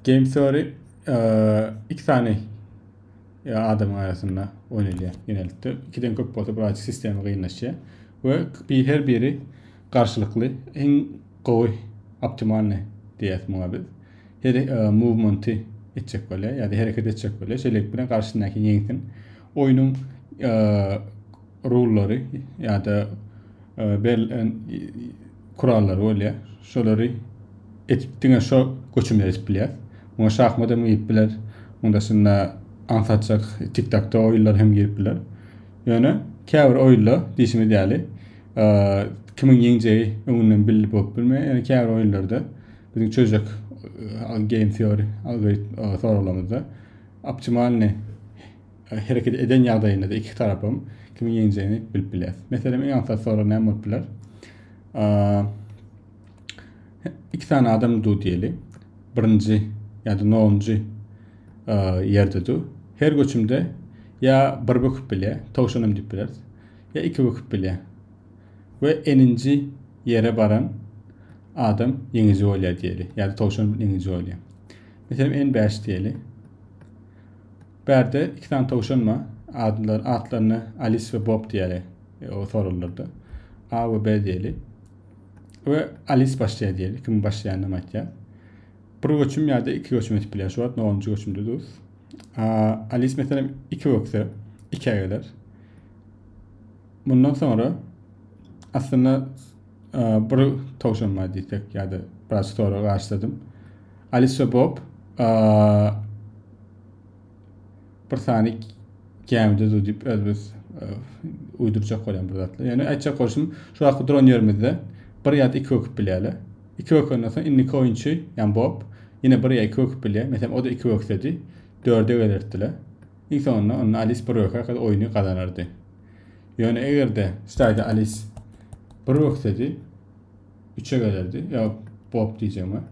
Game Theory iki sany adamyň arasynda oynalýar genellikle. Ikiden köp bolsa biraz sistemi gynlaşýar. Ve bir her biri karşılıklı en gowy optimalny diýäs muňa biz. Her e, movement'i etjek bolýar ýa-da hereket etjek bolýar. Şeýlelik bilen garşydaky ýeňsin. Oýnuň e, rullary ýa-da berlen kurallary bolýar. Şolary etip diňe şo göçümde etip bilýär. Muňa şahmat hem girip biler. Munda şunda aňsatjak tik-takda oýunlar hem girip biler. Ýöne käbir oýunda diýişimiz ýaly kimiň ýeňjegi öňünden bilip bolup bilmeýär. Ýöne käbir oýunlarda biziň çözjek game theory algoritm soraglarymyzda optimalny hereket eden ýagdaýynda-da iki tarapam kimiň ýeňjegini bilip bilýäris. Meselem, iň aňsat sorag näme bolup biler? Iki sany adam du diýeli. Birinji ýa-da nonunjy ýerde du. Her göçümde ýa bir böküp bilýär, towşanam diýip bileris. Ýa iki böküp bilýär. We eninji ýere baran adam ýeňiji bolýar diýeli. Ýa-da towşan ýeňiji bolýar. Meselem, en bäş diýeli. Bärde iki sany towşan bar. Adlar, atlaryna Alis we Bob diýeli. E, o sorulurdy. A we B diýeli. We Alis başlaýar diýeli. Kim başlaýanam aýtýar. Bir göçüm ýa-da iki göçüm ötüp bilýär. Şu wagt nonunjy göçümde dus. A, Alis meselem iki ökse, ikä geler. Mundan soňra aslynda Bir towşan bar diýsek ýa-da biraz stora garşyladym. Alisa Bob bir sany gämide dur diýip özümiz uýdurjak bolan bir zatlar. Ýöne aýtjak bolşum, şu wagtky duran ýerimizde bir ýa-da iki öküp bilýärler. Iki ökenden soň indiki oýunçy, ýa Bob, ýene bir ýa iki öküp bilýär. Meselem, o-da iki öksedi, dörde gelerdiler. Iň soňunda onda Alis bir öker, oýny gazanardy. Ýöne eger-de Staýda Alis bir böksedi, üçe gelerdi. Ýa Bob diýjegim bar.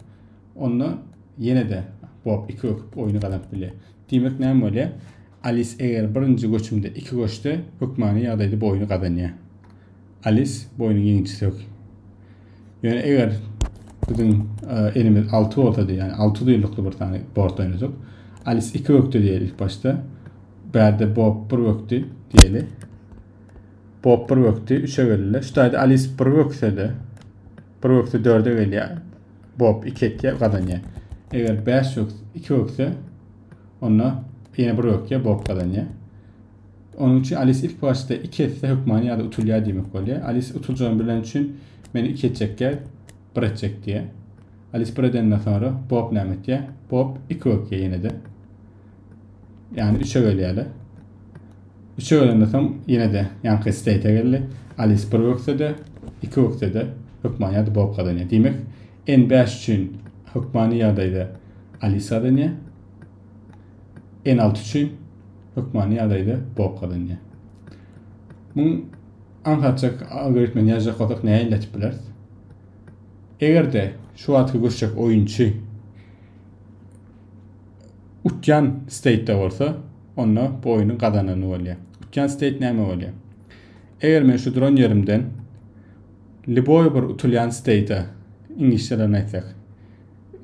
Onda ýene-de Bob iki böküp oýny gazanyp bilýär. Diýmek näme bolýar? Alis eger birinji göçümde iki göçse, hökmany ýagdaýda bu oýny gazanýar. Alis bu oýnuň ýeňijisi hök. Ýöne eger biziň e, elimiz alty bolsady, ýagny alty duýlukly bir sany bort oýnasak, Alis iki bökdi diýeli ilk başda. Bärde Bob bir bökdi diýeli. Bob bir bökdi, üçe geldiler. Şu taýda Alis bir bökse-de, bir bökse dörde gelýär. Bob iki etýär, gazanýar. Eger bäş bökse, iki bökse, onda ýene bir bökýär, Bob gazanýar. Onuň üçin Alis ilk başda iki etse hökmany ýa-da utulýar diýmek bolýar. Alis utuljagyny bilen üçin men iki etjekkä bir etjek diýär. Alis bir edenden soňra Bob näme etýär? Bob iki bökýär ýene-de. Yani 3'e bölýärler. 3'e bölenden soň ýene de ýanky state geldi. Alice 1 öksede, 2 öksede hökman ýa-da Bob gazanýar. Diýmek, N5 üçin hökmany ýagdaýda Alice gazanýar. N6 üçin hökmany ýagdaýda Bob gazanýar. Muň aňsatjak algoritmini ýazjak bolsak näme elletip bileris? Eger-de şu wagtky göçjek oýunçy Utýan steýtde bolsa, onda bu oýny gazanany bolýar. Utýan steýt näme bolýar? Eger men şu duran ýerimden liboý bir utulýan steýte iňlisçe bilen aýtsak,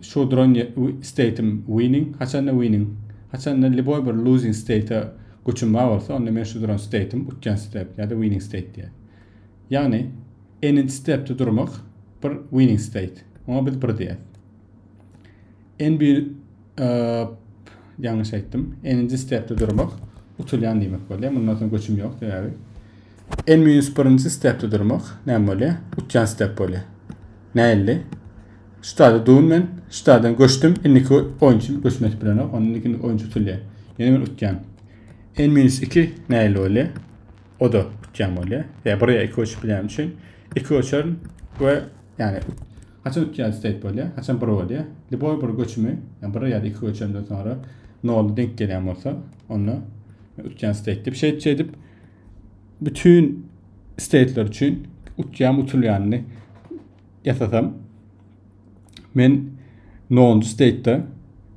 şu duran steýtim winning, haçanda winning, haçanda liboý bir losing steýte göçüm bar bolsa, onda men şu duran steýtim utýan step ýa-da winning steýt diýer. Ýagny n-nji stepde durmak bir winning steýt. Oňa biz bir diýer. NB ýalňyş aýtdym. N-nji stepde durmak utulýan diýmek bolýar. Mundan soň göçüm ýok sebäbi. N-1-nji stepde durmak näme bolýar? Utýan step bolýar. Näilli? Ştada dun men, ştadan göçdüm. Indiki oýunçy göçme etip bilenok. Onda indiki oýunçy utulýar. Ýöne men utýan. N-2 näilli bolýar? O da utýan bolýar. Ýa bir ýa iki göçüp bilen üçin iki göçerin we ýani Haçan iki ýa üç seit bolýar, haçan bir bolýar. Liboý bir göçümi, ýa bir ýa-da iki göçenden soňra nola deňk gelýän bolsa, onda utýan seit diýip, şeýdip şeýdip bütün steitler üçin utýan utulýanyny ýasasam men nonunjy steitde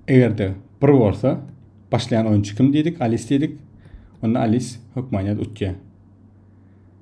egerde bir bolsa başlaýan oýunçy kim diýdik, Alis diýdik. Onda Alis hökman ýa utýar.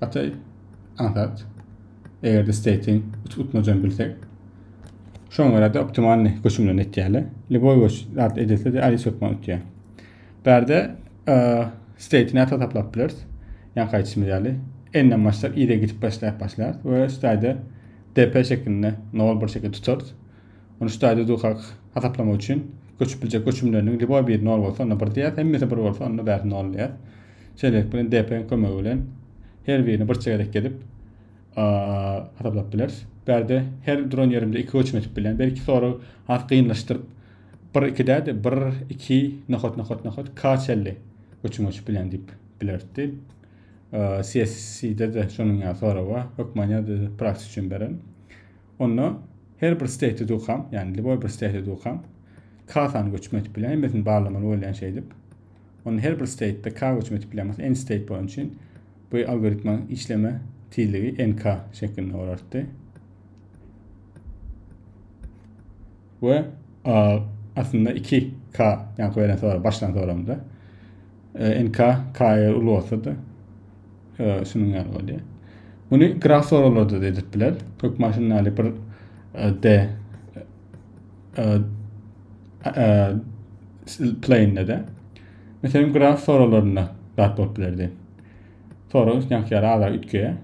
Gataý aňsat. Eger-de state-iň utmajan bilsek, şoňa görä de optimalny göçümlerini etýärler. Lüboý göç zat edilse de alis hökman utýar. Bärde e, state-ni ata taplap bileris. Ýan gaýtşymyz ýaly. N-den başlap i-de gidip başlap başlar we üstaýda DP şeklinde 0-1 şekilde tutarys. Ony şu taýda durkak hasaplamak üçin göçüp biljek göçümleriniň lýuboý biri nol bolsa, onda bir diýýäs, hemmesi bir bolsa, onda bäri nol diýýäs. Şeýlelik bilen dp-niň kömegi bilen her birini bir çegerek gezip hasaplap bileris. Bärde her duran ýerimde iki göçüm etip bilýän. Belki soragy has gynlaşdyryp bir iki däde bir iki nokat nokat nokat k çelli göçüm göçüp bilýän diýip bilerdi. CSC-de de şonuň ýaly sorag bar. Hökman ýa-da praksi üçin beren. Onda her bir state dukam, yani liboy bir state dukam K-sany göçme etip bilýän, hemmesini barlamaly bolýan şeýdip. Onda her bir state-de K göçme etip bilýän bolsa, n state bolan üçin bu algoritmaň işleme tizligi nk şeklinde bolardy. Ve aslında 2K yani koyulan sonra başlan sonra da NK, KR uly bolsa-da, şunuň ýaly bolýar. Muny graf soraglarda da edip biler. Kök maşynlary bir D plane de. Meselem, graf soraglarynda zat bolup bilerdi. Sorag üstünlik ýara azar ütgeye.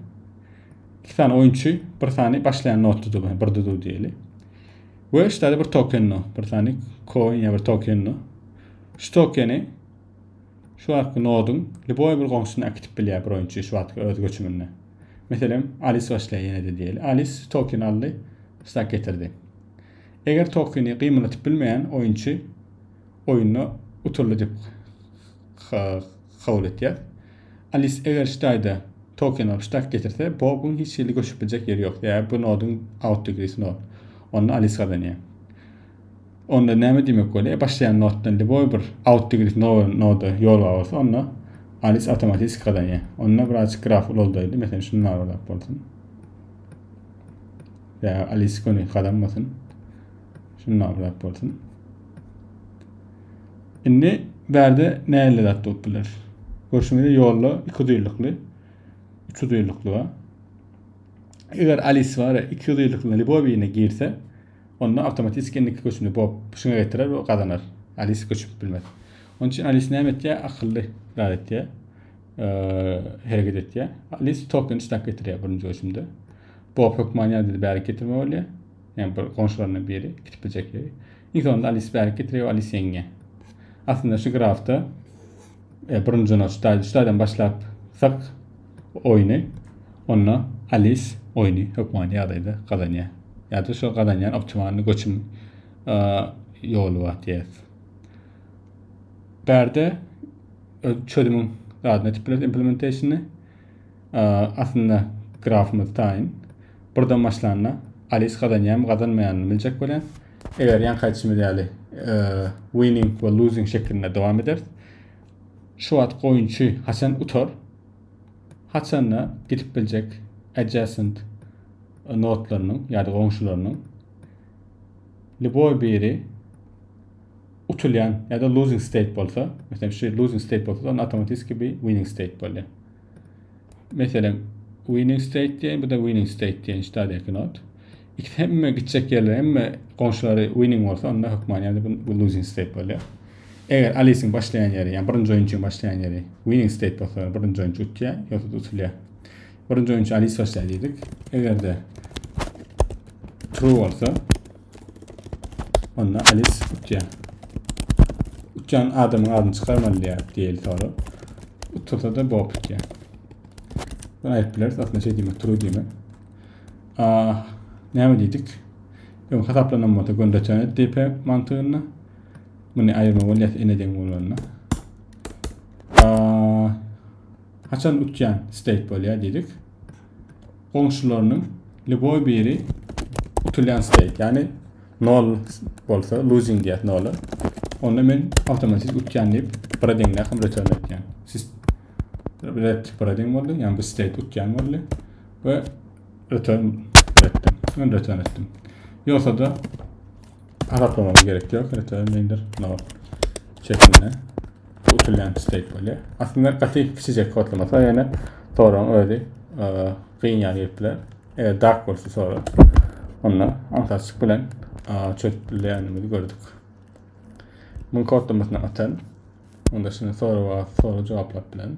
İki tane oyunçu, bir tane başlayan not tutup, bir tutup diyelim. Ve işte bir token no, bir tane coin ya bir token no. Şu tokeni Şu wagtky noduň lýuboý bir goňşusyny äkitip bilýär bir oýunçy şu wagtky öz göçüminde. Meselem, Alis başlaýar ýene-de diýeli. Alis tokeny aldy, stak getirdi. Eger tokeny gymylatyp bilmeýän oýunçy oýunda utuldy diýip kabul etýär. Alis eger şu taýda token alyp stak getirse, bobuň hiç hili göçüp biljek ýeri ýok, sebäbi bu noduň out degree nod. Onda Alis gazanýar. Onda näme diýmek bolýar? E, başlaýan notdan liboý bir out degresi nowa noda ýol bar bolsa, onda Alis awtomatiki gazanýar. Onda birazjyk graf ulaldaýdy. Meselem, şunu narazap bolsun. Ýa Alis göni gazanmasyn. Şunu narazap bolsun. Indi bärde näle zat bolup biler? Görşüňizde ýolda iki duýlukly, üç duýlukly bar. Eger Alis bar, iki duýlukly liboý birine girse, Onda awtomatiski indiki göçümde Bob pyşyňa getirer we gazanar. Alisa göçüp bilmez. Onuň üçin Alisa näme etýär? Akylly zat etýär. Hereket etýär. Alisa token isläp getirýär birinji göçümde. Bob hökman ýadady bärik getirme bolýar. Yani bir goňşularyna biri gidip biljek ýeri. Iň sonunda Alis bärik getiriyor, Alis ýeňýär. Aslynda şu grafda E, birinji noç daýdy. Şulardan başlap sak oýny. Onda Alis oýny hökman ýagdaýda gazanýar. Ýa-da şu gazanýan optimalny göçüm e, ýoly bar diýýär. Bärde çözümiň adını etip bileris implementationy. E, aslynda grafymyz taýyn. Birden başlanda Alis gazanýarmy, gazanmaýarmy biljek bolýar. Eger ýaňky aýdyşymyz ýaly e, winning we losing şeklinde dowam eder. Şu wagt goýunçy haçan utar? Haçanda gidip biljek adjacent notlarynyň ýa-da goňşularynyň liboý biri utulýan ýa-da losing state bolsa, meselem şu losing state bolsa, onda awtomatiki bir winning state bolýar. Meselem, winning state diýen, bu-da winning state diýen ştadýaky not. İkisi hemme gitjek ýerler, hemme goňşulary winning bolsa, onda hökman ýa-da bu losing state bolýar. Eger Alice-iň başlaýan ýeri, ýa birinji oýun üçin başlaýan ýeri winning state bolsa, birinji oýunçy utýar, ýogsa utulýar. Birinji oýunçy Alice başlaýar diýdik. Eger-de true bolsa, Onda Alis utýar. Utýan adamyň adyny çykarmaly diýär diýeli soru. Utursa da Bob utýar. Bunu aýyp bileris. Aslında şey diýmek, true diýmek. Ah, näme diýdik? Öň hasaplanan bolsa göndeçäne DP mantygynda. Bunu aýyrma bolýar ene deň bolanda. Ah, haçan utýan state bolýar diýdik. goňşularynyň lýuboý biri utulýan steyk, ýagny nol bolsa, losing diýýär nola. Onda men awtomatik utýan diýip, bira deňde hem return etýän. Siz red bira deň boldy, ýagny bu steyk utýan boldy we return etdim. Men return etdim. Ýogsa da hasaplamam gerek ýok, return indir nol şeklinde. Bu usul näme isleýip bolýar? Aslynda gaty kiçijek kodlamasa ýöne soragyň özi e, gyn ýaly gelip biler. Eger dark bolsa soru, onda aňsatçylyk bilen e, çözüp bilýändigimizi gördük. Muň kodlamasyny atan, onda şuny soraga soru jogaplap bilen.